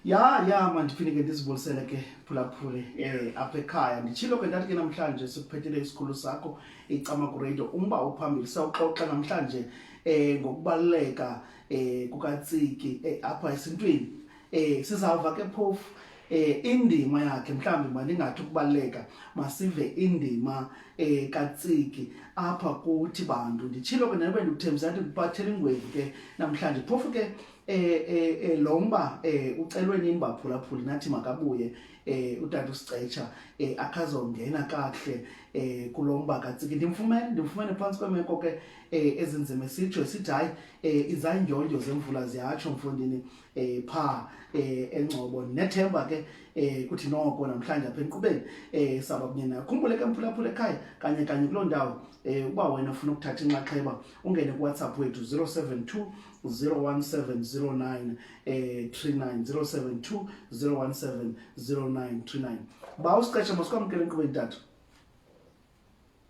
ya ya mandifike ke ndizibulisele ke phulaphule eh apha ekhaya nditshilo ke ndathi ke namhlanje sikuphethele isikhulu sakho icama radio umba ophambili sawuxoxa namhlanje eh ngokubaluleka eh kukatsiki eh, apha esintwini Eh sizawuva ke phofu eh indima yakhe mhlawumbi mandingathi ukubaleka masive indima eh katsiki apha kuthi bantu nditshilo ke nabe ndikuthembisa ukuthi kupathela ingwevu ke namhlanje phofu ke eh eh, eh lo mba eh ucelwe nini baphulaphuli nathi makabuye eh utata usicetsha eh akazongena kahle eh kulomba katsiki ndimfumene ndimfumene phansi kwemeko ke eh ezinzima sitsho sithi hayi eh izandyondyo zemvula ziyatsho mfundini eh pha eh engcobo nethemba ke eh kuthi noko namhlanje apha enkqubeni eh saba kunye nayo khumbule ke mphulaphula ekhaya kanye kanye kuloo ndawo eh uba wena ufuna ukuthatha inxaxheba ungene kuwhatsapp wethu 072 01709 eh 39 072 01709 39 ba usiqeshe masikwamkele enkqubeni tata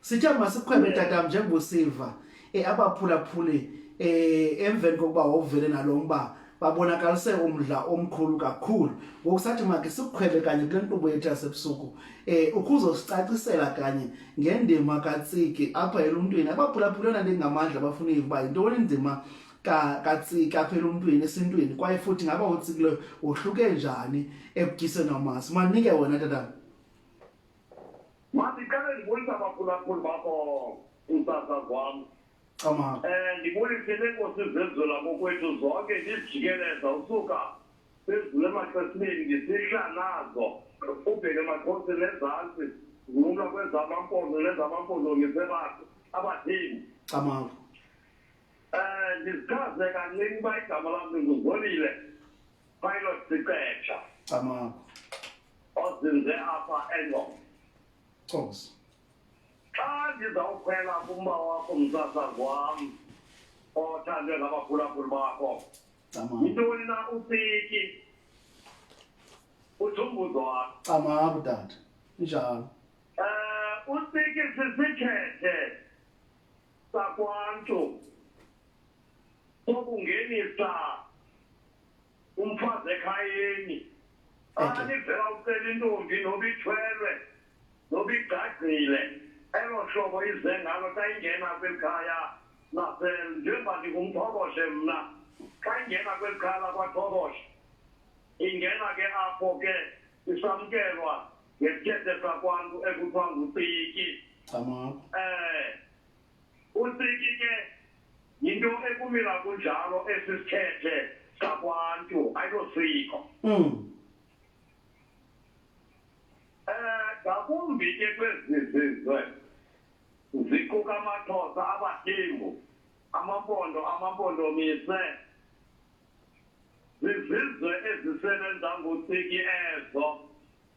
sithe masikhwebe tatam njengoba usiva um abaphulaphuli um emveni kokuba wawuvele nalo mba babonakalise umdla omkhulu kakhulu ngoku sathi makhe sikukhwele kanye kule nkqubo yethu yasebusuku um ukuzosicacisela kanye ngendima katsiki apha eluntwini abaphulaphuli yona ndingamandla bafuna iva yintoni indima katsiki apha eluntwini esintwini kwaye futhi ngaba utsikileyo wohluke njani ekutyiseni amasi manike wona tatana mandiqale ndibulisa abaphulaphuli bakho kusasa kwam um eh, ndibulise nenkosi zenzula kokwethu zonke ndizijikeleza usuka sezulu emaxesibeni ndisihla nazo ubheke emaxhosi nezantsi ngumla kwezamampondo nezamampondo ngisebakho abathini camavu um eh, ndizichaze kancinci uba igama lam ndinguzolile Pilot Sicetsha Camagu ozinze apha eNgoma. Cosi Xa ndizawukhwela kumba wakho msasazi wam othandwe ngabaphulaphuli bakho Camagu yintoni na upiki uthumbuzo wakho Camagu dade njalo um upiki sisikhethe sakwantu sokungenisa umfazi ekhayeni xa nivela ucela intombi noba ithwelwe noba igcagcile elo hlobo ize ngalo xa ingena kweli khaya njengoba ndingumthoboshe mna xa ingena kweli khaya lakwathoboshe ingena ke apho ke isamkelwa ngesithethe sakwantu ekuthiwa ngutiki um eh, Unsiki ke yinto ekumila kunjalo esi sithethe sakwantu ayilosiko mm. eh ngakumbi ke kwezi zizwe ziquka amaxhosa abadingu amampondo amampondomise zizizwe ezisebenza ngotsiki ezo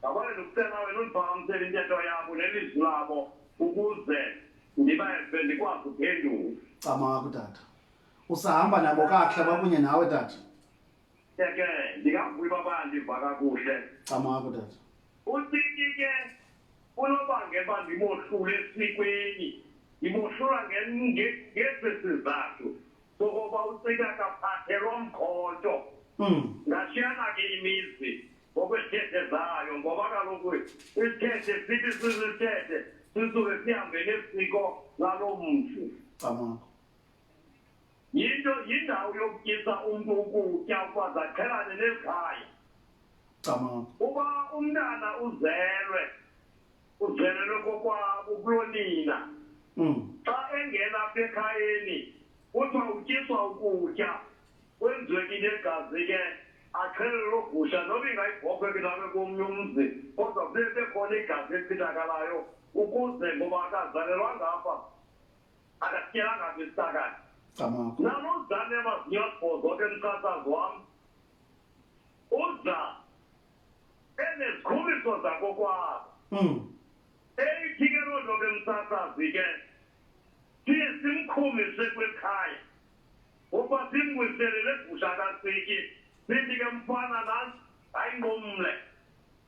Ngabona ndikucela wena undibhawamsele intetho yabo nelizwi labo ukuze ndibeve ndikwazi uphendula. Camaku tata. Usahamba nabo kakuhle bakunye nawe tata. Ke ndingavuyi baba ndiva kakuhle. Camaku tata. Uthini ke unobangela uba ndimohlule esikweni ndimohlula ngesi sizathu sokoba ucika kaphathelwa mkhonto ngashiyana ke imizi Ngokwesithethe zayo ngoba kaloku isithethe sithi sisithethe sisuke sihambe nesiko lalo mzi yinto yindawo yokutyisa umntu ukutya ukuba zaqhelane nezikhaya uba umntana uzelwe uzelelwe kokwabo kulonina hmm. xa engena apha ekhayeni kuthiwa utyiswa ukutya kwenziwe into egazi ke axhelele loo gusha noba ingayibhokhwe ke nabe komnye umzi kodwa kube bekhona igazi elichithakalayo ukuze ngoba akazalelwa ngapha akatyela ngapha isitakayo nalozane amazinyo asibhozo ke msasazi wam uza enezikhumbiso zakokwabo hmm. eyithi ke loo nto ke msasazi ke siye simkhumise kwekhaya Uba simbuyisele legusha kasityi sithi ke mfana nantsi ayingomle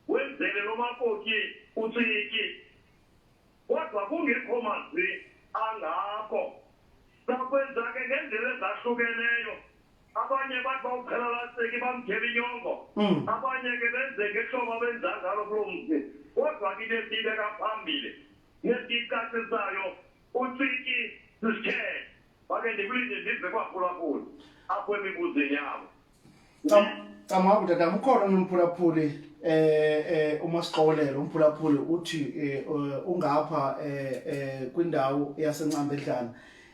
wenzele lo makoti utsiki kodwa kungekho mazwi angako sakwenza ke ngendlela ezahlukeneyo abanye bathi bawuphela laseki bamthela inyongo mm. abanye ke benze ngehlobo abenza ngalo kuloo mzi kodwa ke into esiyibeka phambili nesiyicacisayo utsiki sisithethe pake ndipite ndibve kwaphulaphula apo mibuzo yavo cama kuti tamukhona nomphulaphuli eh eh uma siqokelela umphulaphuli uthi eh, eh, ungapha eh, eh kwindawo yasencambedlana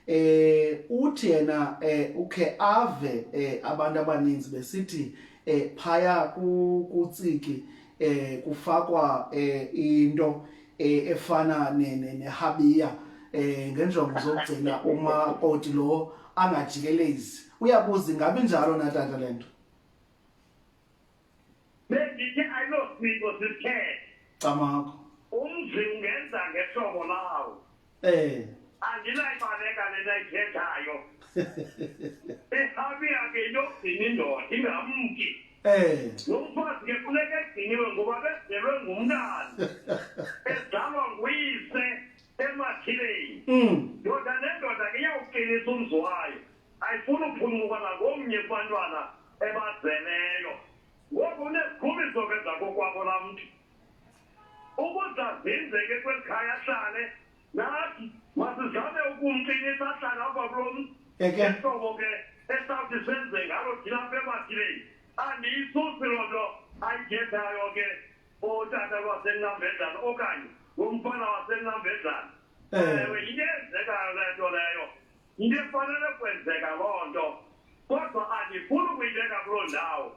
eh uthi yena eh ukhe ave eh, abantu abaninzi besithi eh phaya kutsiki eh kufakwa eh into eh, efana nehabiya ne, ne eh ngenjongo zokugcina uma koti lo angajikelezi uyabuza ngabe njalo na tata lento bengithi ayilosiko sithe camakho umzi ungenza ngehlobo lawo Eh. Andinayibaleka le nayithethayo. Ehabi ake yokugcina indoda ingamki. Eh. Nomfazi ke funeka egciniwe ngoba bezelwe ngumntana. Ezalwa nguyise emathileni. Mm. Ndoda nendoda ke iyawuqinisa umzi wayo. Ayifuni uphuncuka nangomnye kubantwana ebazeleyo. Ngoku unezikhumbiso ke zakokwabo laa mntu. ukuze azinzeke kweli khaya ahlale nathi masizame ukumqinisa ahlale apha kulo mzi ehlobo ke esawuthi senze ngalo thina apha emathileni andiyisusi loo nto ayithethayo ke otata lwasenqambedlana okanye ngomfana wasenqambedlana eh. ewe yinto eyenzekayo le nto leyo yinto efanele kwenzeka loo nto kodwa andifuni ukuyibeka kuloo ndawo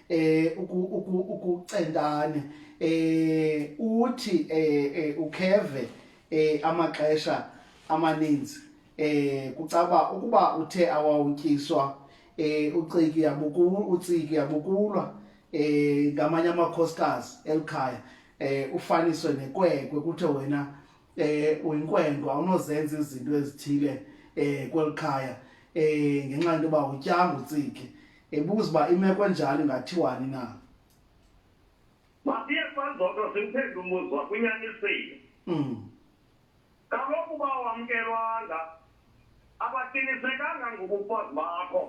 eh ukucentane eh uthi eh, eh ukheve eh amaxesha amaninzi eh kucaba ukuba uthe awawutyiswa eh uciki yabukulu uciki yabukulwa eh ngamanye amakhosikazi elikhaya eh ufaniswe nekwekwe kuthe wena eh uyinkwenkwe awunozenza izinto ezithile eh kwelikhaya eh ngenxa yokuba utyanga uciki ebuza uba imeko enjalo ingathiwani na masiye sanzodwa simphendle umbuzo wakunyanisile mm. kaloku uba wamkelwanga abaqinisekanga ngobufazi bakho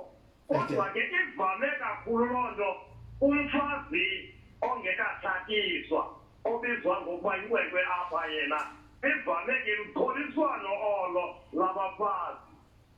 kodwa ke ivame kakhulu loo nto umfazi ongekatshatiswa obizwa ngokuba yinkwenkwe apha yena ivame ke lukholiswano olo labafazi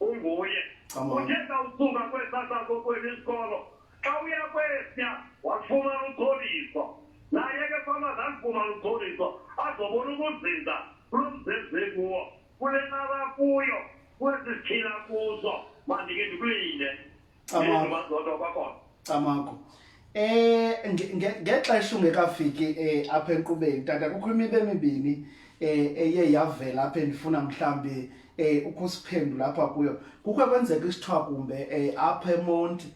unguye uthe sawusuka kwesasakokweli isikolo xa uya kwesya wafumana umtholiso naye ke fama zalifumana umtholiso azobona ukuzinza kulo mzezi kuwo kule naba kuyo kwezi siphila kuzo mandike ndikulinde Camako. Camako. Eh ngexesha ungekafiki eh apha enkqubeni tata kukho imibe emibini eh eye yavela apha endifuna mhlambi eh ukusiphendula apha kuyo. Kukho kwenzeka isithiwa kumbe eh apha eMonti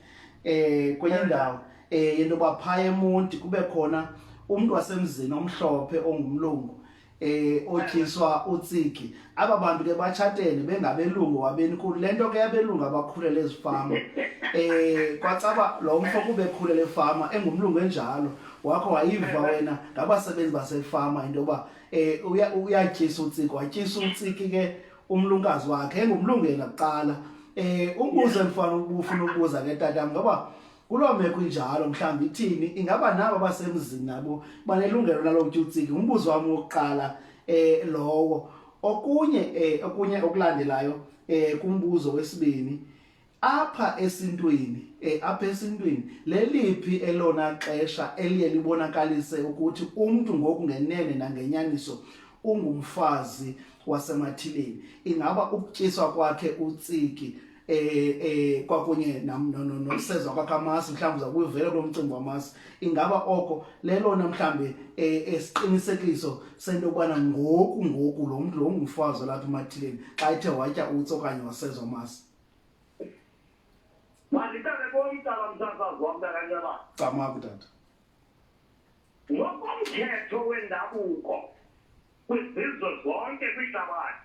eh kwenye eh. ndawo eh yento baphaya eMonti kube khona umuntu wasemzini omhlophe ongumlungu eh otyiswa utsiki aba bantu ke batshatene bengabelungu wabeni khulu le nto ke yabelungu abakhulele ezifama eh kwacaba lo mfo kube khulele efama engumlungu enjalo wakho wayiva wena ngabasebenzi basefama into yoba eh uyatyisa utsiki watyisa utsiki ke umlunkazi wakhe engumlungu yena kuqala eh umbuzo endifana ubufuna ukubuza ke tatam ngoba kuloo meko injalo mhlawumbi ithini ingaba nabo basemzini nabo banelungelo lalo kutyutsiki ngumbuzo wam wokuqala eh lowo okunye eh okunye okulandelayo eh kumbuzo wesibini apha esintwini eh apha esintwini leliphi elona xesha eliye libonakalise ukuthi umuntu ngoku ngenene nangenyaniso ungumfazi wasemathileni ingaba ukutyiswa kwakhe utsiki eh eh kwakunye nam no no nosezwa kwakhe amasi mhlawumbi uza kuyivela kulo mcimbi wamasi ingaba oko lelona mhlawumbi eh, esiqinisekiso sento yokubana ngoku ngoku lo mntu lo ngumfazi olapha emathileni xa ethe watya utsi okanye wasezwa amasi manditale komtala msasazi wam takanyaba camaku tata ngokomthetho wendabuko kwizizwe zonke kwihlabathi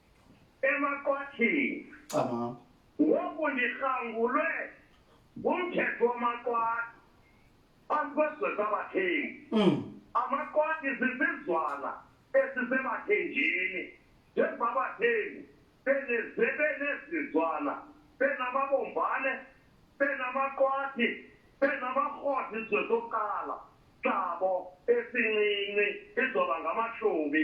emaqwathini cama ngoku ndirhangulwe ngumthetho wamaqwathi phambi kwesizwe sabathengi mm. amaqwathi sisizwana esisebathenjini njengoba abathengi benezizwana benamabombane benamaqwathi benamaqwathi izwe sokuqala sabo esincinci izoba ngamashumi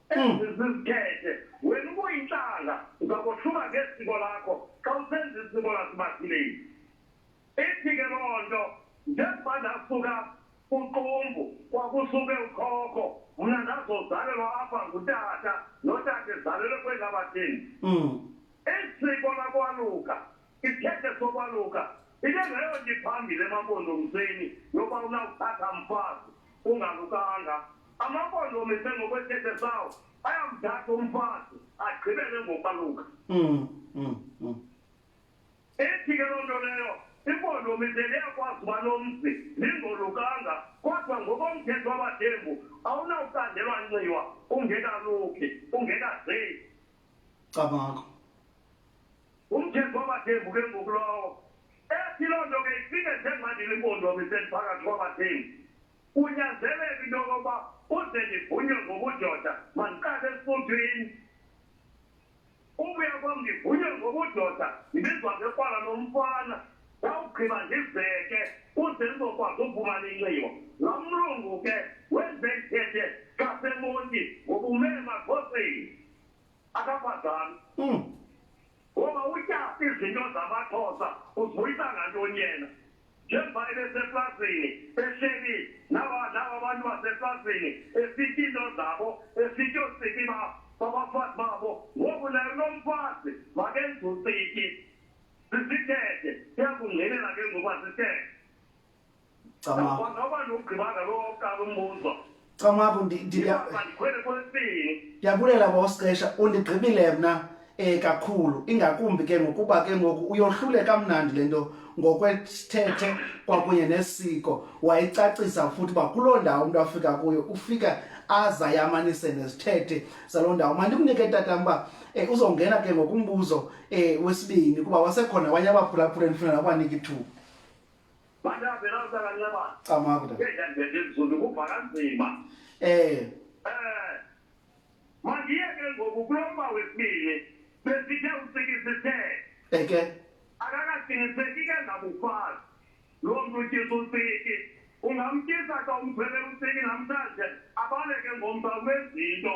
Hmm. zizithethe wena ubuyintlanga uzakothuka ngesiko lakho xa usenza isiko lasibazileni ithi ke loo nto njengoba ndasuka uqumbu kwakusuke ukhokho mna ndazozalelwa apha ngutata notata ezalelwe kwelabathini hmm. isiko lakwaluka isithethe sokwaluka into engeyonto iphambile emampondomiseni yokuba unakuthatha mfazi ungalukanga amampondomise ngokwesithethe sawo ayamthatha umfazi agqibele ngokwaluka mm, mm, mm. ethi ke loo nto leyo impondomise leyakwazi uba lomzi lingolukanga kodwa ngokomthetho wabathembu awunawukandelwa nxiwa ungekaluki ungekazeli cabangakho Umthetho wabathembu ke ngoku lowo. Ethi loo nto ke ifike njengandile impondomi seliphakathi kwabathembu. Kunyanzeleka into yokokuba uze ndivunywe ngobudoda mandiqale esifuthwini. Ubuya kwam ndivunywe ngobudoda ndibizwa ngekwala lomfana wawugqiba ndibheke uze ndizokwazi ukufumana inxibo lo mlungu ke wenze ndithethe xa semonti ngobume emakhosini akakwazani mm. ngoba utya izinto zamaxhosa uzibuyisa ngantoni yena njengoba ebeseplazini ehleli nawa nawa abantu baseplazini esithi into zabo esithi osiki babafazi babo ngoku naye unomfazi makenze usiki sisithethe siyakungqinela ke ngoba sithethe Camabu. Noba nugqibanga lo oqala umbuzo. Camabu ndiyakulela ndiyabulela bosixesha undigqibile mna eh kakhulu ingakumbi ke ngokuba ke ngoku uyohlule kamnandi lento ngokwesithethe kwakunye nesiko wayicacisa futhi uba kuloo ndawo umntu afika kuyo ufika aza yamanise nesithethe saloo ndawo mandimnike tata uba eh, uzongena ke ngokumbuzo eh, wesibini kuba wasekhona abanye abaphulaphula endifuna nakubanika ithuba camakuda eh mangiye ke ngoku kulomba wesibili besithe usikisithe eke akakaqiniseki ke ngabufazi loo mntu utyisa usiki ungamtyisa xa umphele usiki namhlanje abaleke ngomba kwezinto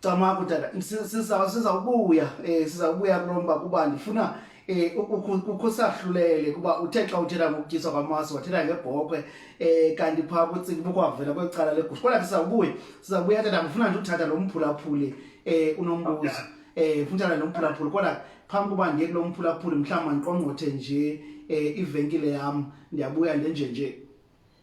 cama kudala sizawubuya um eh, sizawubuya kulo mba kuba ndifuna eh ukusahlulele kuba uthe xa uthetha ngokutyiswa kwamasi wathetha ngebhokhwe eh kanti phaa kucinga bukwavela kwecala legusha kodwa sizawubuye sizawubuya tata ngifuna nje uthatha lo mphulaphuli eh unombuzo eh funtana lo mphulaphuli kodwa phambi kuba ndiye kulo mphulaphuli mhlawumbi mandiqongqothe nje eh ivenkile yam ndiyabuya ndenje nje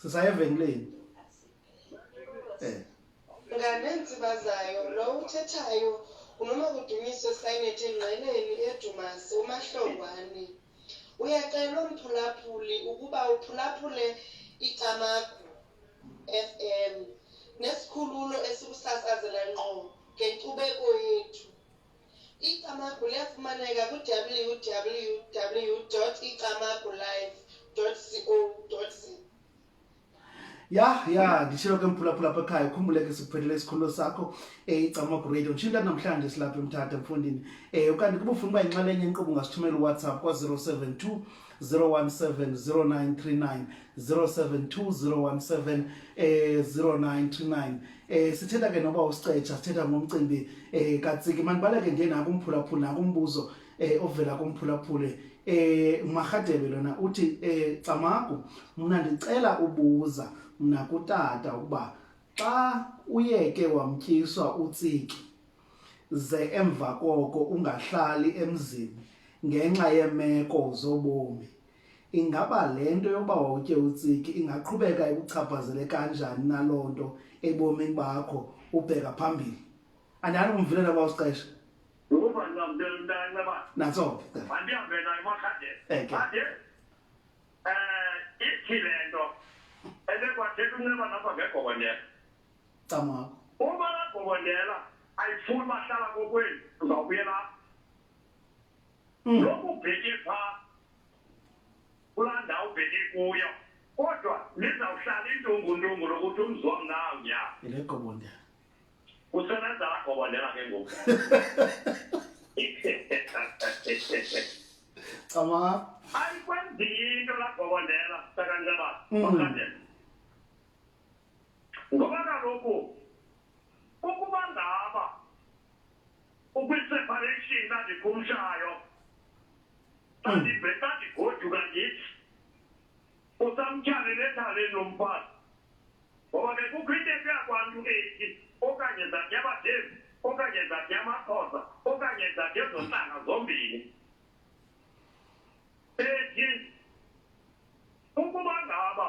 sisaya evenkileni um nganeentsiba zayo lo uthethayo unoma kudumiso esayinethi engqeleni edumasi umahlongwane uyacelwa umphulaphuli ukuba uphulaphule icamagu f m nesikhululo esikusasazela ngqo ngenkcubeko yethu Icamagu liyafumaneka ku-www.icamagullife.co.za. ya ya nditshilo ke mphulaphula apha ekhaya ukhumbule ke sikuphelele isikhululo sakho um eh, icamagu radio nditshinta namhlanje silapha emthatha mfundini um eh, okanye kuba ufuna uba yinxalenye inkqubo ungasithumela uwhatsapp kwa-072 017 0939 072017 eh 0939 eh sithetha ke noba usicetsha sithetha ngomcimbi eh katsiki manibaleke nje naku umphulaphula naku umbuzo eh ovela kumphulaphule eh magadebe lona uthi eh camagu mina ndicela ubuza mina kutata ukuba xa uyeke wamtyiswa utsiki ze emva koko ungahlali emzini ngenxa yeemeko zobomi ingaba le nto yokuba wawutye utsiki ingaqhubeka ikuchaphazele kanjani naloo nto ebomini bakho ubheka phambili andani kumvulela uba usixesha natso mandihambe nayo emakhandeni ande um ithi le nto ebekwathetha unceba lapha ngegobonyela camakho uma lagobondela ayifuni bahlala kokwenu uzawubuyela hmm. lokhu ubheke phaa kulaa ndawo ubheke kuyo kodwa nizawuhlala intunguntungu lokuthi umzi wam nawo nya ilegobondela usebenza lagobondela ke ngoku cama ayikwenzi into lagobondela sakanjabaa hmm. ngoba kaloku ukuba ngaba ukwiseparation ndandikhumshayo ndandigoduka hmm. ndithi usamtyhalele ethaleni lo mfazi ngoba ke kukho into ekuyakwantu eki okanye zathi abadevi okanye zathi amaxhosa okanye zathi ezontlanga zombini ethi ukuba ngaba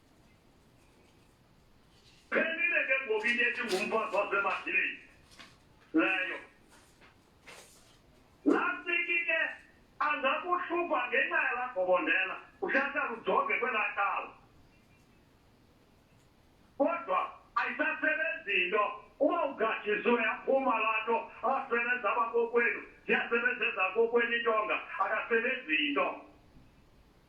Phenile ke ngoku into ethi ngumphosa wasemadileni leyo. Lastiki ke angakuhlupha ngenxa yalagobondela uhlahla lujonge kwelaa cala. Kodwa ayisasebenzi into uba ugatshiswe yaphuma laa nto asebenza abakokwenu ziyasebenza ezakokwenu intonga akasebenzi into.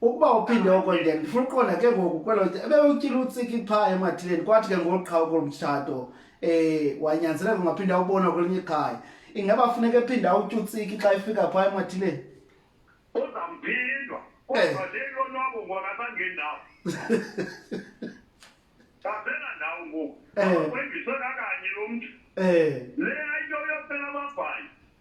ukuba uphinde oko then ndifuna uqonda ke ngoku kwelo ebewutyile utsiki qha emathileni kwathi ke ngolu qha okolu mtshato um eh, wanyanzeleka ungaphinde awubona kwelinye ikhaya ingaba funeka ephinde awutya utsiki xa efika phaa emathileni uzamphindwa eh. kodwa le lonwabo ngona bangendawo qasela ndawo ngoku eh. kwendiswe kakanye lo mntu le ayinto yophela ababhayi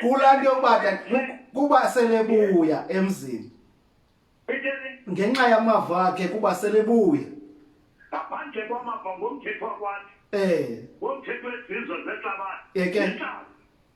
kulaa nto yokuba kuba selebuya emzini ngenxa yamava akhe kuba selebuya ngaphandle kwamava ngomthetho wakwathi um ngomthetho wezizwe zehlabathi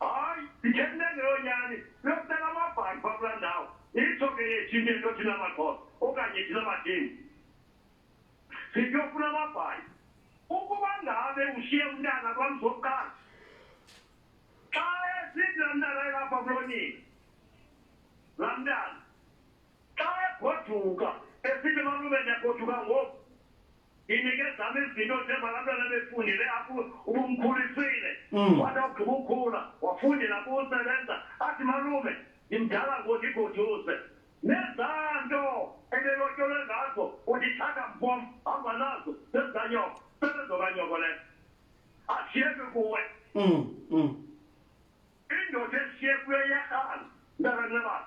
hayi ndithembe ngeyonyani bekubeka amabhayi pha kula ndawo itsho ke yethu into into thina maxhosa okanye thina badini siyofuna amabhayi ukuba ngabe ushiye umntana kwamzokuqala xa esithi la mntana elapha kulonini la mntana xa egoduka esithi malume ndiyagoduka ngoku inikezama izinto njengoba abantwana befundile apho ubumkhulisile mm. wathi awugqiba ukhula wafundela kusebenza athi malume ndimdala ngothi igoduze nezaa nto ebelotyolwe ngazo undithatha mbom hamba nazo sezanyoko sebezokanyoko le ashiyeke kuwe mm, mm. indoda eshiye kuyo iyarhala ntakanebana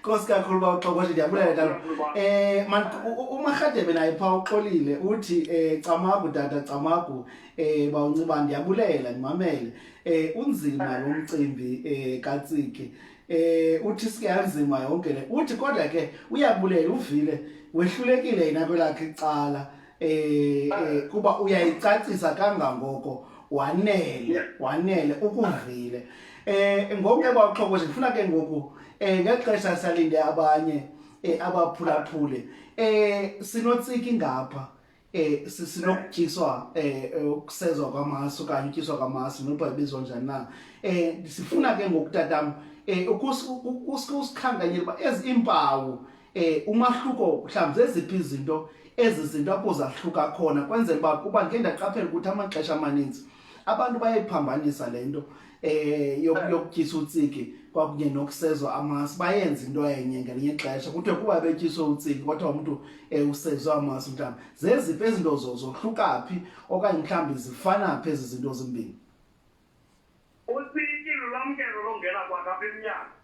Nkosi kakhulu ba uxokothi ndiyabulela tata. Eh man uMarhadebe naye pha uxolile uthi eh camagu tata camagu eh bawunxiba ndiyabulela ndimamele. Eh unzima lo mcimbi eh katsiki. Eh uthi siyanzima yonke le. Uthi kodwa ke uyabulela uvile wehlulekile yena kwelakhe icala. eh, eh kuba uyayicacisa kangangoko wanele wanele ukuvile eh ngoku ke bawuxhokoza ngifuna ke ngoku eh ngexesha salinde abanye eh abaphulaphule eh sinotsiki ngapha eh sinokutyiswa eh, eh ukusezwa kwamasu kanye utyiswa kwamasu noba ibizwa njani na eh sifuna ke ngokutatam eh ukusikhankanyela uba ezi impawu eh umahluko mhlawumbi zeziphi izinto ezi zinto apho zahluka khona kwenzela uba kuba ndike ndaqaphela ukuthi amaxesha amaninzi abantu bayayiphambanisa le nto eh yokutyisa utsiki kwakunye nokusezwa amasi bayenza into enye ngelinye ixesha kuthiwe kuba betyiswe utsiki kodwa umntu um eh, usezwe amasi mhlawumbi zeziphi ezi nto zohluka phi okanye mhlawumbi zifana phi ezi zinto zimbini utsiki lulwamkelo longena kwakapha emnyango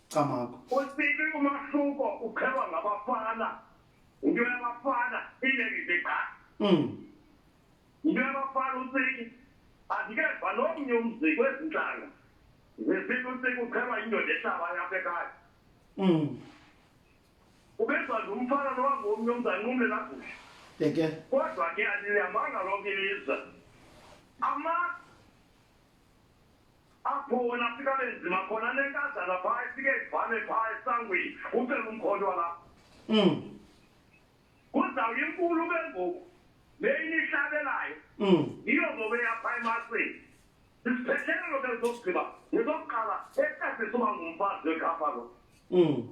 Camagu. Usibi umahluko uqhelwa ngabafana. Into yabafana inengise cha. Mm. Into yabafana usibi andikeva nomnye umzi kwezintlanga. Zesibi usibi uqhelwa indoda ehlaba yakhe ekhaya. Mm. Ubezwa nje umfana lowa ngomnye umzali umle lakuhle. Yeke. Kodwa ke aliyamanga lonke ilizwe. Ama apho wona afika benzima khona nenkazana phaa ifike ivale phaa esangweni ucela umkhonto walapho mm. kuzawu inkulu ke ngoku le inihlabelayo mm. yiyo ngoku eyapha emasini isiphethelelo ke zokugqiba ngezokuqala esasisuba ngumfazi wekhapha lo um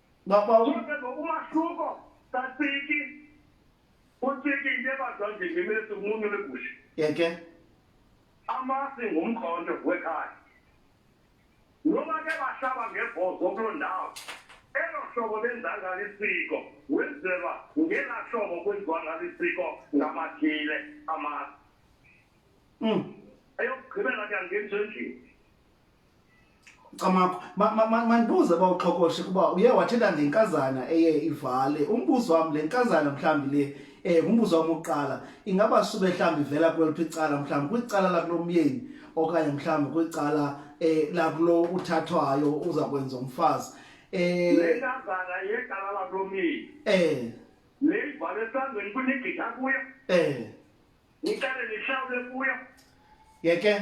Baba u- Kodwa ngokumahluko katsiki utsiki into ebazwa nje ngemesi umuntu legusha yeke amasi ngumkhonto wekhaya noba ke bahlaba ngebhozo kuloo ndawo elo hlobo benza ngalo isiko wenzelwa ngela hlobo kwenziwa ngalo isiko ngamathile amasi Mm. eyokugqibela ke angenzi endlini Camakho, mandibuze ma, ma, bawuxhokoshe kuba uye wathetha ngenkazana eye ivale. Umbuzo wam le nkazana mhlawumbi le eh umbuzo wam oqala ingaba sube mhlawumbi ivela kweliphi icala mhlawumbi kwicala lakulomyeni okanye mhlawumbi kwicala eh lakulo uthathwayo uza kwenza umfazi eh le nkazana yecala lakulomyeni eh le ivale esandleni kunigqitha kuyo eh niqale nihlawule kuyo yeke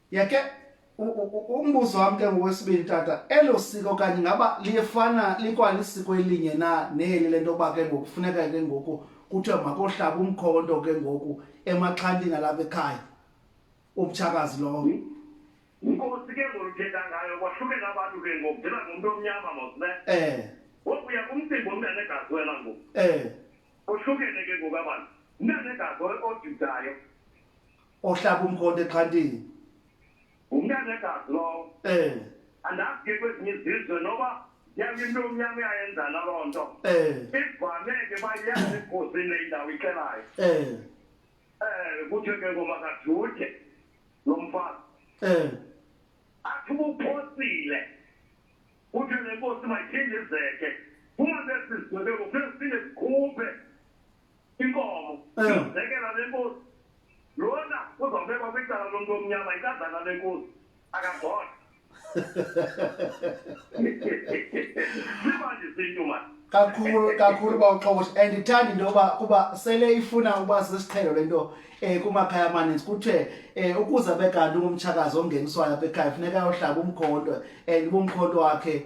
yake umbuzo wam ke ngokwesibini tata elo siko okanye ngaba liyefana likwalisiko elinye na neli le nto yoba ke ngoku funeka ke ngoku kuthiwa makohlaba umkhonto ke ngoku emaxhantini alapha ekhaya umtshakazi lowo hmm? inkosi ke ngoluthetha ngayo kwahlukela abantu ke ngoku ndela ngumntu omnyama mosne eh wokuya kumcimbi omntana egazi wena ngoku eh ohlukene ke ngoku abantu umntana egazi ojudayo ohlaba umkhonto exhantini ngumntana egazi lowo um andazi ke kwezinye izizwe noba yabe into omnyama uyayenza naloo nto um ivame ke bayazi egozini le indawo ixelayo um um kuthiwe ke ngomakajuthe lo mfazi um athi ubuphosile kuthiwe le nkosi mayiphindizeke kungabe sizigwebeko kufuneka siphinde sikhuphe inkomo sizekela eh. lenkosi lona uzawubekwa kwicala lomntu omnyama ikazana lenkosi akabona simanje sintu mani kakhulu kakhulu uba uxokosh and ithanda into yoba kuba sele ifuna uba sisiqhelo le nto um kumakhaya amaninzi kuthiwe um eh, ukuze abe kanti ungumtshakazi ongeniswayo apha ekhaya funeka ayohlaba umkhonto and ubumkhonto wakhe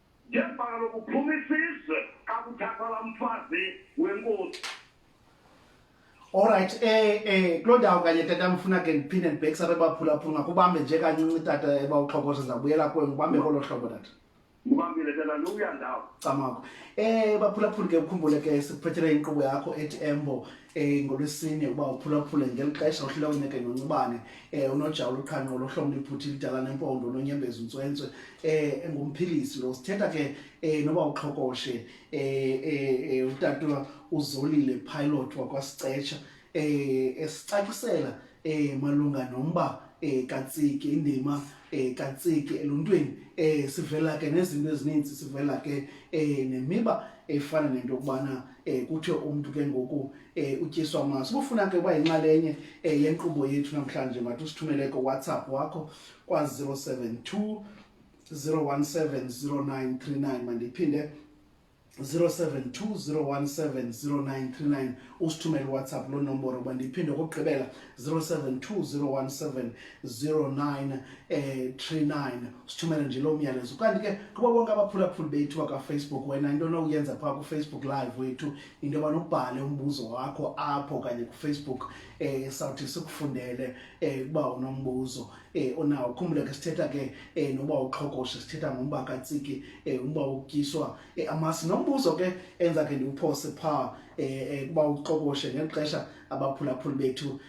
ngembala lokuphuma isizwe kakuthathwa la mfazi wenkosi Alright eh eh kuloo ndawo kanye tata mfuna ke ndiphinde ndibhekisa bebaphulaphula ngakubambe nje kancinci tata ebawuxhokoza ndizawubuyela kuwe ngubambe kolo hlobo tata ngubambile tata luya ndawo camako eh baphulaphula ke ukhumbule ke sikuphethele inkqubo yakho ethi embo eh ngolwesine uba uphulaphule ngeli xesha uhlulawuneke noncubane eh unojawula uqhanqo lohlomla iphuthi lidala nempondo nonyembeza untswentswe eh engumphilisi lo sithetha ke eh noba uxhokoshe eh, eh, eh utata uzolile pilot wakwasicetsha eh esicacisela eh malunga nomba eh katsiki indima eh katsiki eluntwini eh sivela ke nezinto ezininzi sivela ke eh nemiba efana nento kubana eh kuthiwe umuntu ke ngoku eh utyiswa amaso ubufuna ke uba yinxalenye eh yenkqubo yethu namhlanje mathi usithumele ko WhatsApp wakho kwa 072 0170939 mandiphinde 0720170939 usithumele WhatsApp lo nomboro bandiphinde kokugqibela 072017 09 eh 39 sithumele nje lo myalezo kanti ke kuba bonke abaphulaphuli bethu bakafacebook wena into onokuyenza phaa kufacebook live wethu into yoba nobhale umbuzo wakho apho kanye kufacebook eh sawuthi sikufundele eh ukuba unombuzo eh onawo khumbule ke sithetha ke eh noba uqhokoshe sithetha ngomba katsiki eh umba utyiswa eh, amasi nombuzo ke enza ke ndiwuphose phaa eh, eh kuba uqhokoshe ngexesha abaphulaphuli bethu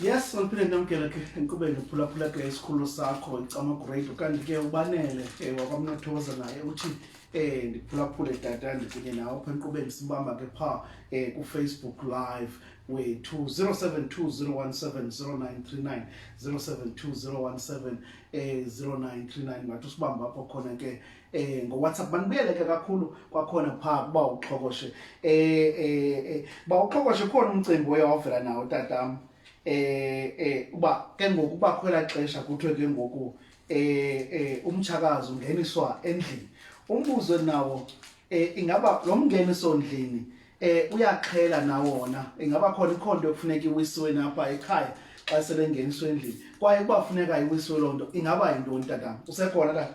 yes mandiphinde ndamkele ke enkqubeni uphulaphula ke isikhululo sakho icamagrade kanti ke ubanele um wakwamnathoza naye uthi um ndiphulaphule tata ndikunye nawo apha enkqubeni sibamba ke phaa um eh, kufacebook live wethu 0720170939 0720170939 ngathi usibamba apho khona ke eh ngowhatsapp banibuyeleke kakhulu kwakhona phaa kuba uxhokoshe eh eh, eh ba uxhokoshe khona umcimbi oye wavela nawo tatam eh eh uba ke ngoku uba khwela xesha kuthiwe ke ngoku eh eh umtshakazi ungeniswa endlini umbuzo nawo eh ingaba lo mngeniso ndlini eh uyaxhela nawona ingaba khona ikhonto ekufuneka iwisiwe napha ekhaya xa selengeniswe endlini kwaye kuba funeka iwisiwe lonto ingaba yintoni tatam usekhona tata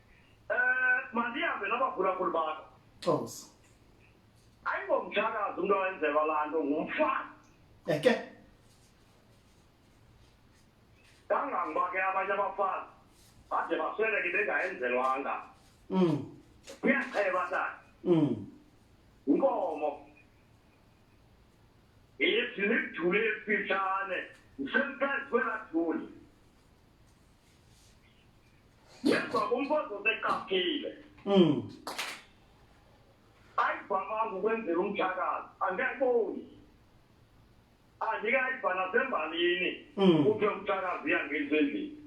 Eh, mandihambe nabaphulaphuli bakho cosa ayingomtshakazi umntu awenzelwa laa nto ngumfana eke kangangoba ke abanye abafazi bade basweleke bengayenzelwanga mm kuyacheba tata mm inkomo ithi nidule ifitshane ngisemfezi kwelaa duli Yedwa kumfazi oseqaphile. Mm. Ayivamanga ukwenzela umthakazi, angekoni. Andikayiva nasembalini hmm. kuthiwe umthakazi uyangenisa endlini.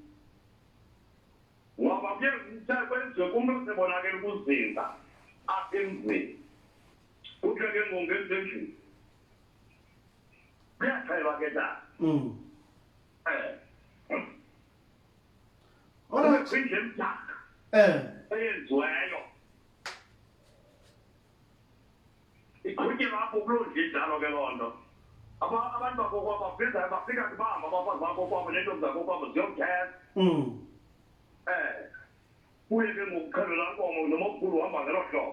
Ngoba kuye kuthe kwenziwe kumntu osebonakela ukuzinza apha emzini. Kuthiwe ke ngoku ngenisa endlini. Kuyaxhelwa ke tata. Mm. Eh. Ona kwindi emdaka eh eyenziweyo iqhutyelwa apho kuloo ndlu injalo ke loo nto Aba- abantu bakokwabo bafika bafika kubamba abafazi bakokwabo nentombi zakokwabo ziyomthetha mm eh kuye ke ngokuqhelela nkomo nomomkhulu uhamba ngelo hlobo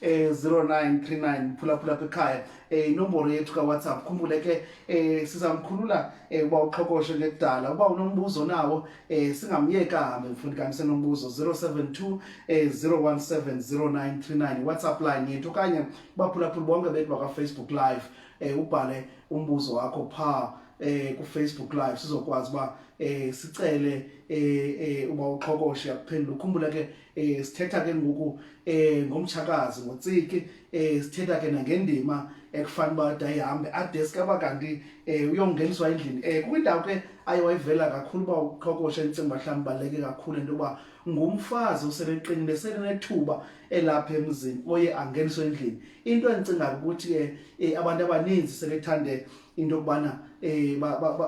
eh 0939 phulaphula apha ekhaya eh inomboro yethu kaWhatsApp khumbule ke eh sizamkhulula eh uba uqhokoshe ngekudala uba unombuzo nawo eh singamyeka hambe mfundi kanti senombuzo 072 eh 0170939 WhatsApp line yethu okanye baphulaphula bonke bethu baka Facebook live eh ubhale umbuzo wakho pha eh ku Facebook live sizokwazi ba eh sicele eh, eh uba uqhokoshe akuphendula ukhumbula ke eh sithetha ke ngoku eh ngomtshakazi ngotsiki eh sithetha ke nangendima ekufanele uba dayihambe adeske aba kanti um uyongeniswa endlini um kukwindawo ke aye wayivela kakhulu uba uqhokoshe endicinga uba mhlawumbi baleke kakhulu into yoba ngumfazi osebeqinile selenethuba elapha emzini oye angeniswe endlini into endicingayo ukuthi ke um abantu abaninzi sebethande into yokubana um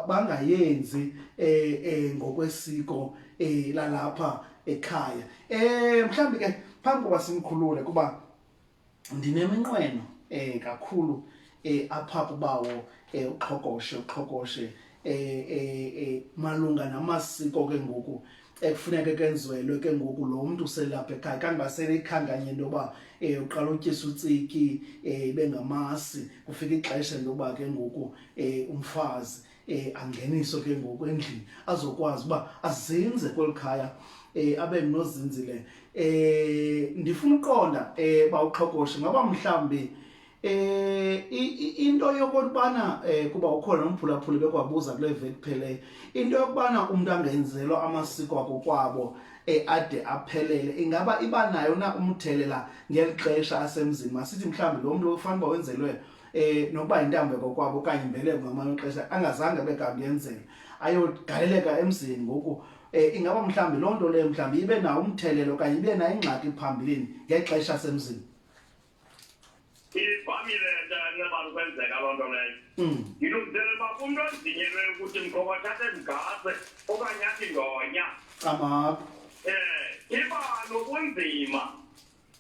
bangayenzi um ngokwesiko um lalapha ekhaya um mhlawumbi ke phambi koba simkhulule kuba ndineminqweno um kakhulu um apha kubawo um uqhokoshe uqhokoshe um malunga namasiko ke ngoku ekufuneka kenziwelwe ke ngoku lo mntu uselapha ekhaya kangoba seleyikhankanye into yoba um uqala utyisa utsiki um ibe ngamasi kufika ixesha into yoba ke ngoku um umfazi um angeniso ke ngoku endlini azokwazi uba azinze kweli khaya um abe nozinzile um ndifuna uqonda um uba uxhokoshe ngaba mhlawumbi eh into yokubana eh kuba ukhona nomphulaphuli bekwabuza kule veki phele into yokubana umuntu angenzelwa amasiko akokwabo eh ade aphelele ingaba iba nayo na umthelela ngelixesha asemzini masithi mhlawumbi lo muntu ufanele wenzelwe eh nokuba intambo kokwabo okanye imbeleko ngamanye ixesha angazange abe kanti yenzela ayogaleleka emzini ngoku eh ingaba mhlambi loo nto leyo mhlambi ibe nawo umthelelo okanye ibe nayo ingxaki phambilini ngexesha semzini ivamile nto nxebana ukwenzeka loo nto leyo hmm. ngilungiselela uba umntu ondinyelwe ukuthi mkhokothathe mgase okanye athi ndonya amako um eh, iba nobunzima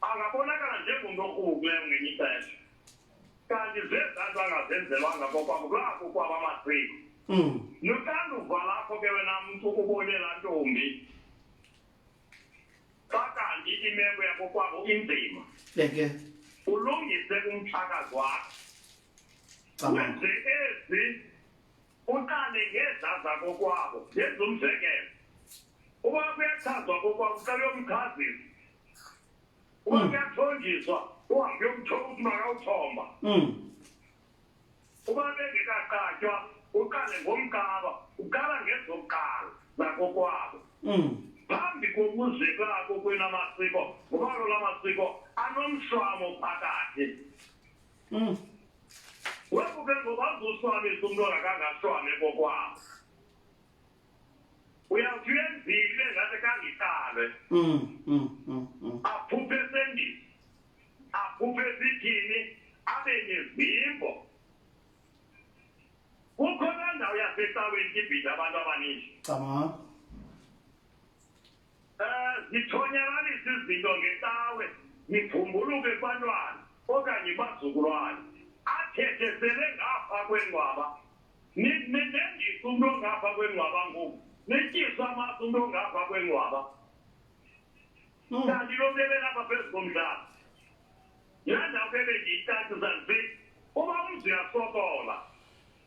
angabonakala njengomntu okrukleyo ngenye ixesha kanti zezanto angazenzelwanga kokwakulaku kwaba masiko hmm. noxanduva lakho ke wena mntu ubone laa ntombi xa kanti imeko yakokwabo inzima eke ulungise umthakazi wakho wenze ezi uqale ngezaza kokwabo ngenza umzekelo uba kuyachazwa kokwabo uqale yomkhazisi uba kuyathonjiswa uhambe uyomthoba ukuthi makawuthomba uba bengekaqatywa uqale ngomkaba uqala ngezokuqala zakokwabo phambi kokuze kwako kwena masiko ngoba lola masiko anomswamo phakathi webuke ngoba uzoswamisa umntu ongakangaswame kokwabo uyawuthi uyenzile ngathi kangiqalwe mm, mm, mm, aphuphe esendini aphuphe esithini abe nezimbo kukhona ndawo yasecaweni ibhida abantu abaningi cabanga um zithonyalalisa izinto ngecawe nibhumbuluke kubantwana okanye bazukulwane athethe sele ngapha kwengwaba nendithi umntu ongapha kwenwaba ngoku netyisa amasi umntu ongapha kwenwaba hmm. kanti lo mnebela apha phezu komdlalo yandawubele ndiyicacisa nzi uba umzi uyasokola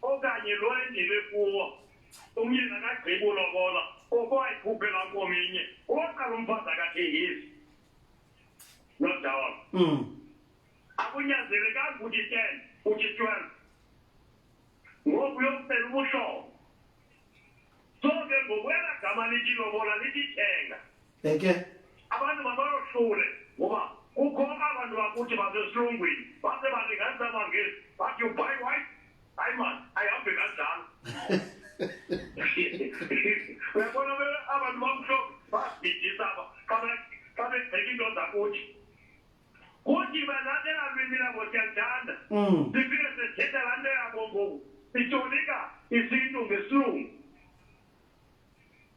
okanye lo endile kuwo umyeni akagqibi ulobola oko ayikhuphela kominye uwaqala umfazi akathengisi nodawona hmm. akunyanzelekanga ukuthi ten ukuthi twelve ngoku yokucela ubuhlobo so ke ngokwela gama lithi lobola lithi thenga eke abantu mabayohlule ngoba kukho abantu bakuthi basesilungwini base balinganisa abangezi but you buy white hayi mani ayihambe kanjalo uyabona abantu bamhlophe babhidisa aba xa begceka into zakuthi kuti balandela lwimi labo siyalithanda mm. sifike sithetha laa nto yabo ngoku sitolika isintu ngesilungu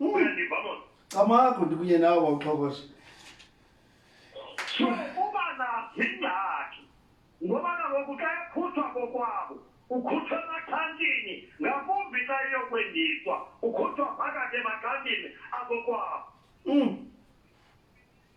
mm. uyandiva mona camakho ndikunye nawo bawuxhokosha so uba nazingxaki ngoba nangoku xa ekhutshwa kokwabo ukhutshwa emaxhantini ngakumbi xa iyokwendiswa ukhutshwa phakathi emaxhantini akokwabo mm.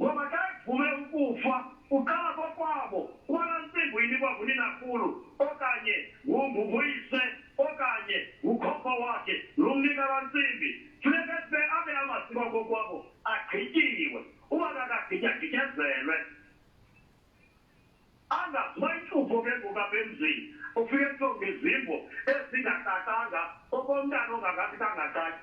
ngoba xa evume ukufa uqala kokwabo kwala ntsimbo inikwa nguninakhulu okanye nguyise okanye ngukhokho wakhe lo mnika la ntsimbi funeka sibe abe amasikwa kokwabo agqityiwe uba kakagityagityezele angaziba intlupho ke ngokabemzini ufike kuthiwa izimbo ezingacacanga okomntana ongakakitangacaki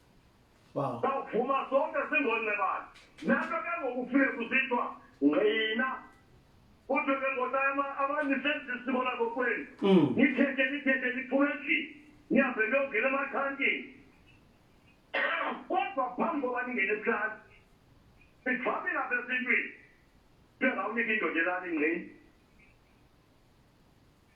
Wow. Sawuvuma sonke singoonqebane. Nento ke ngokufika kusithiwa ngqina. Kodwa ke ngoba abanye senze isiko labo kwenu. Mm. Nithethe nithethe niphume endlini. Nihambe niyongena emakhankini. Kodwa phambi koba ningene ebuhlali. Sivamile apha esintwini. Bengawunika indoda elani ngqini.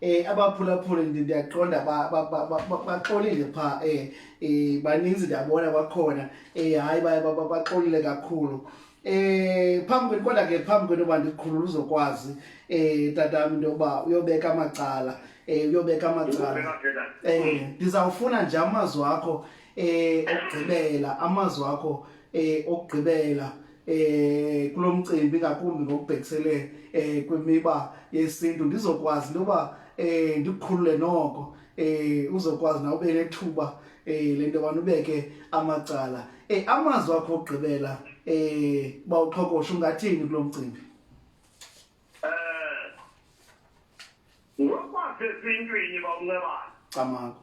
eh abaphulaphuli ndiyaqonda baxolile phaa um eh, eh, baninzi ndiyabona kwakhona um hayi baxolile kakhulu Eh phambi kwenu kodwa ke phambi kwenu uba ndikhulula uzokwazi eh tatami into yokuba uyobeka amacala eh uyobeka amacala eh ndizawufuna nje amazwi akho eh okugqibela amazwi akho eh okugqibela eh kulomcimbi ngakumbi ngokubhekisele eh kwimiba yesintu ndizokwazi loba eh ndikhulule noko eh uzokwazi na ube nethuba eh lento abantu beke amacala eh amazwi akho ogqibela eh bawuqhokosha ungathini kulomcimbi eh ngokwazi esintwini bawuncebana camako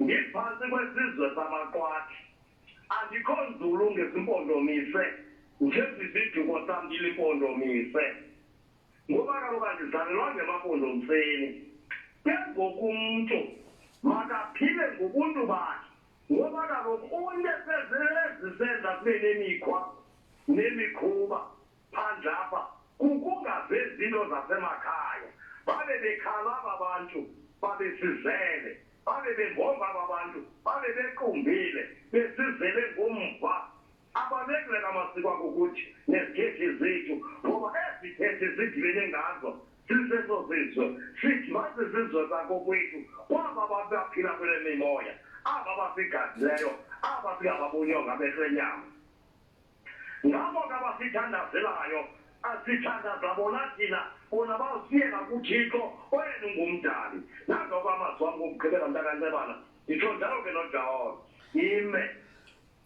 ndiphantsi kwesizwe samaqwathi andikho nzulu ngezimpondomise njesiziduko sam ndilimpondomise ngoba kaloku andizalelwa ngemampondomiseni ke ngoku umntu makaphile ngobuntu bakhe ngoba kaloku unesezisenza kube nemikhwa nemikhuba phandle apha kukungavezi into zasemakhaya babe bekhala aba bantu babesizele babe bengomba aba bantu babe bequmbile besizele ngomva abalekileka amasiko akukuthi nezithethi zethu ngoba ezithethi zidibene ngazo siseso sizwe sithi masizizwe sakokwethu kwaba babaphila kule mimoya aba basigadileyo aba singababonyo ngabehlenyama ngabo ke abasithandazelayo asithandaza bona thina bona basiyela kuthixo oyena ungumdali nangoko amazwi wam ngokugqibela mntakancebana nditsho njalo ke nojawona ime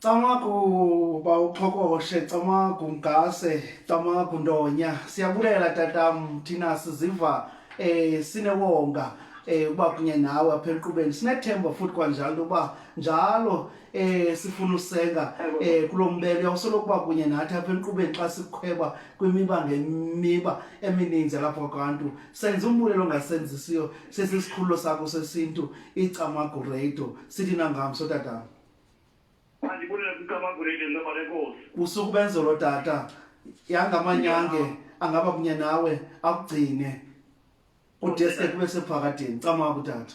camagu uba uqhokoshe camagu mgase camagu ndonya siyabulela tatam thina siziva um sinewonga um uba kunye nawe apha enkqubeni sinethemba futhi kwanjalo uba njalo eh sifuna usenga eh kulombelo uyawusola ukuba kunye nathi apha enkqubeni xa sikhweba kwimiba ngemiba emininzi lapha kwabantu senza umbulelo ongasenzisiyo sesisikhululo sakho sesintu icamagurado sithi nangamso tata kusuku benzolo tata yangamanyange angaba kunye nawe akugcine udeske kube sephakadeni camaku tata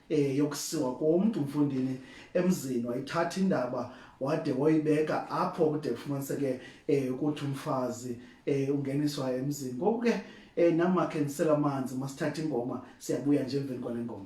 eh yokusiwa komntu umfundini emzini wayithatha indaba wade woyibeka apho kude kufumaniseke eh ukuthi umfazi eh ungeniswa emzini ngoku ke eh namakhe nisela amanzi masithatha ingoma siyabuya nje emveni kwale ngoma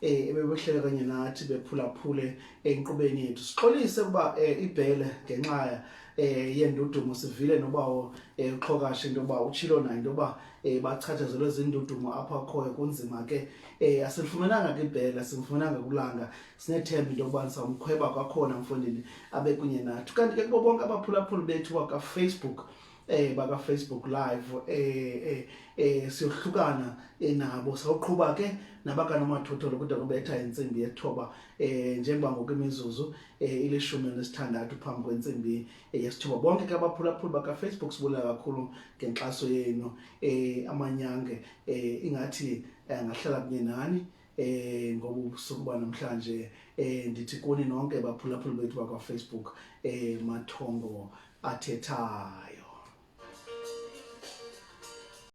eh ebebehlele kanye nathi bephulaphule enkqubeni yethu sixolise ukuba eh, ibhele ngenxa eh yendudumo sivile nobawo eh, uxhokashe into yoba utshilo nayo into yoba eh, bachatshazelwe zindudumo apha khoyo kunzima ke eh asifumenanga ke ibhele asifumenanga kulanga sinethemba into yokuba samkhweba kwakhona mfondini abe kunye nathi kanti ke kubo bonke abaphulaphuli bethu waka Facebook eh baba Facebook live eh eh, eh siyohlukana eh, nabo sawuqhuba ke nabakana mathotholo kude kubetha insimbi yethoba eh njengoba ngokwemizuzu eh ilishumi nesithandathu phambi kwensimbi eh, yesithoba bonke ke abaphulaphuli baka Facebook sibulela kakhulu ngenxaso yenu eh amanyange eh ingathi angahlala eh, kunye nani eh ngoba ubusuku banamhlanje eh ndithi kuni nonke baphulaphuli bethu bakwa Facebook eh mathongo athethayo